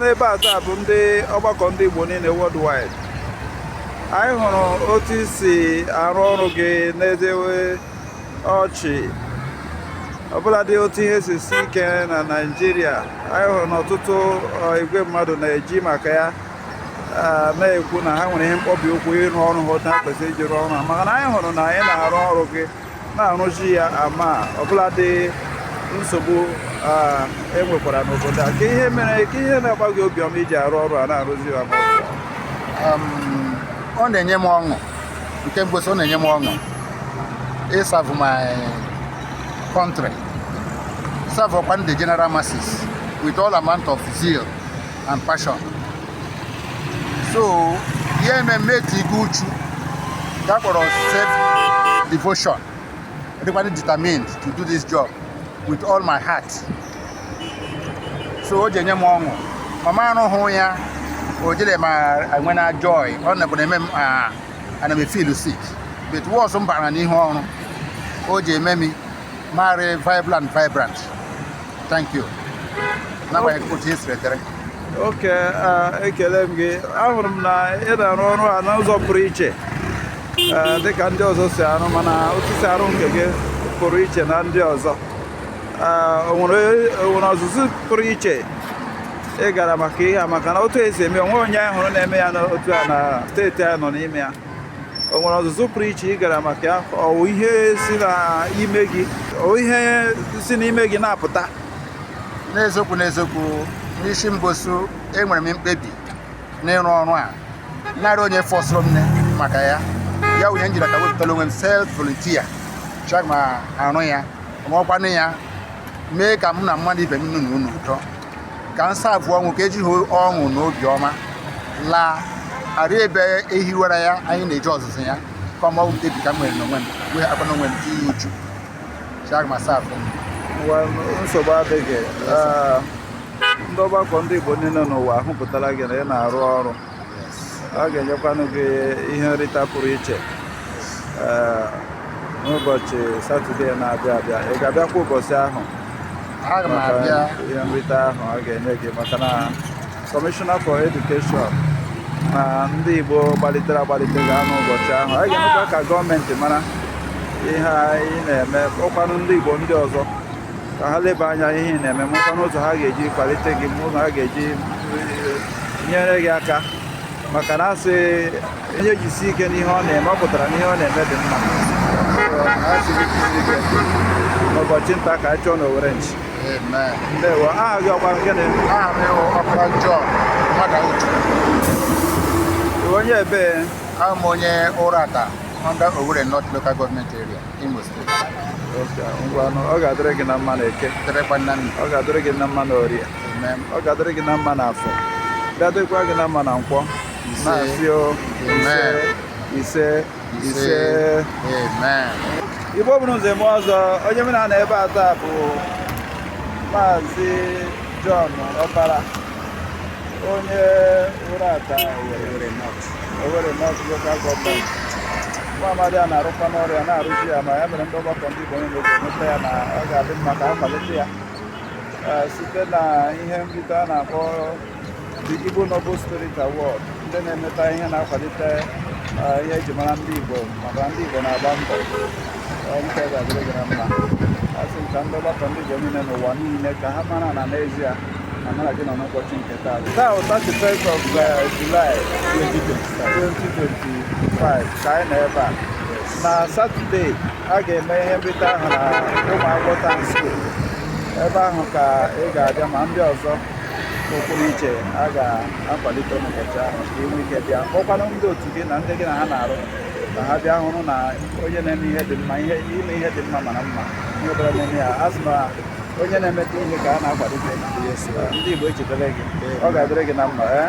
n'ebe a taa bụ ndị ọgbakọ ndị Igbo niile worldwide anyị hụrụ otu i si arụ ọrụ gị na-edewe ọchị ọbụladị otu ihe si sie ike na Naịjirịa anyị hụrụ na ọtụtụ igwe mmadụ na-eji maka ya na-ekwu na ha nwere ihe mkpọbi ụkwụ ịrụ ọrụ ha otu ha kwesị iji rụọ ọrụ maka na anyị hụrụ na ị na-arụ ọrụ gị na-arụzi ya ama ọbụladị nsogbu e nwekwara n'obodo a kee ihe mere kee ihe na-agba gị obiọma iji arụ ọrụ a na-arụzi ya ama ọ na-enye m ọṅụ nke mbosu ọ na-enye m ọṅụ ịsavụ my country savụọkwa ndị general masses with all amount of zeal and passion so ihe ememme itinye uchu nke a kpọrọ self devotion adịkwa m determined to do this job with all my heart so o ji enye m ọṅụ ma m arụwa ya o ji eme m enwe na joy ọ na na-eme m ana m feel sick but once m bara n'ihu ọrụ o ji eme m m arị vibrant vibrant. Thank you. N'agbanyeghị otu esi wetere. okay eh, ekele m gị ahụrụ m na ị na-arụ ọrụ a n'ụzọ pụrụ iche eh, dị ka ndị ọzọ si arụ mana otu i si arụ nke gị pụrụ iche na ndị ọzọ Eh, o nwere o nwere ọzụzụ pụrụ iche ị gara maka ihe a maka na otu i si eme o nweghị onye anyị hụrụ na-eme ya otu a na steeti a nọ n'ime ya o nwere ọzụzụ pụrụ iche ị gara maka ya ọ wụ ihe si n'ime gị ọ wụ ihe si n'ime gị na-apụta n'eziokwu n'eziokwu n'isi mbosu enwere m mkpebi n'ịrụ ọrụ a na arị onye fọsụrụ m maka ya ya wụ ihe m ji aka wepụtara onwe m self volunteer chọọ ka m arụ ya ọnụọkwanụ ya mee ka mụ na mmadụ ibe m nọ n'ụlọ ụtọ nke nsa abụọ ọ wụ ka ejighị ọṅụ na obiọma la arị ebe e hiwara ya anyị na-eje ọzụzụ ya kama ọ wụ mkpebi nke m nwere n'onwe m wee akpa n'onwe m tinye uchu sị aga m asavụ nsogbu adịghị ndị ọgbakọ ndị Igbo niile n'ụwa ahụpụtala gị na ị na-arụ ọrụ a ga-enyekwanụ gị ihe nrita pụrụ iche eh, n'ụbọchị satọde na-abịa abịa ị ga-abịakwa ụbọchị ahụ ihe nrita ahụ a ga-enye gị maka na kọmishọna for edukeshọn na ndị igbo gbalitere agbalite ga-anọ ụbọchị ahụ a ga-emekwa ka gọọmenti mara ihe anyị na-eme ụkwanụ ndị igbo ndị ọzọ ka ha leba anya ihe ị na-eme mụta n'ụzọ ha ga-eji kwalite gị n'ụzọ ha ga-eji eh, nyere gị aka maka na a sị onye jisi ike n'ihe ọ na-eme ọ pụtara na ihe ọ na-eme dị mma n'ụbọchị taa ka anyị chọọ n'Owere nchi ndewo aha gị ọkwa gịnị aha m wụ Ọkpara John mmadụ uchu onye ebee awụ m onye Uratta under Owerri North Local Government Area. Imo steeti ngwanụ ọ ga-adịrị gị na mma na eke ọ ga-adịrị gị na mma na orie ọ ga-adịrị gị na mma na afọ ga-adịrịkwa gị na mma na nkwọ na-asị ise ise Igbo mụrụ nze mụọ ọzọ onye mụ na ya nọ ebe a taa bụ maazị John Ọkpara onye Uratta Owerri Owerri North Local Government nwa amadi a na-arụkwa n'ọrụ ya na-arụzi ya ma ya mere ndị ọgbakọ ndị Igbo niile ji echeta ya na ọ ga-adị mma ka a kwalite ya Ee, site na ihe nrite a na-akpọ the Igbo Noble Spirit Award ndị na-emeta ihe na-akwalite ee, ihe eji mara ndị Igbo maka ndị Igbo na-agba mbọ Ee, nke a ga-adịrị gị na mma a sị m ka ndị ọgbakọ ndị Igbo niile n'ụwa niile ka ha mara na n'ezie na mụ na gị nọ n'ụbọchị nke Taa bụ 31st of uh, July 2025 ka anyị nọ ebe a na Satọde a ga-eme ihe nrite ahụ na Ụmụagwọ Town School ebe ahụ ka ị ga-abịa ma ndị ọzọ pụrụ iche a ga-akwalite n'ụbọchị ahụ ka ị nwee ike bịa kpọkwanụ ndị otu gị na ndị gị na ha na-arụ ka ha bịa hụrụ na onye na-eme ihe dị mma ihe ime ihe dị mma mara mma onye ọbụla na-eme ya a sị na onye na-emeta ihe ka a na-akwalite ndị Igbo echetara gị ọ ga-adịrị gị na mma eh?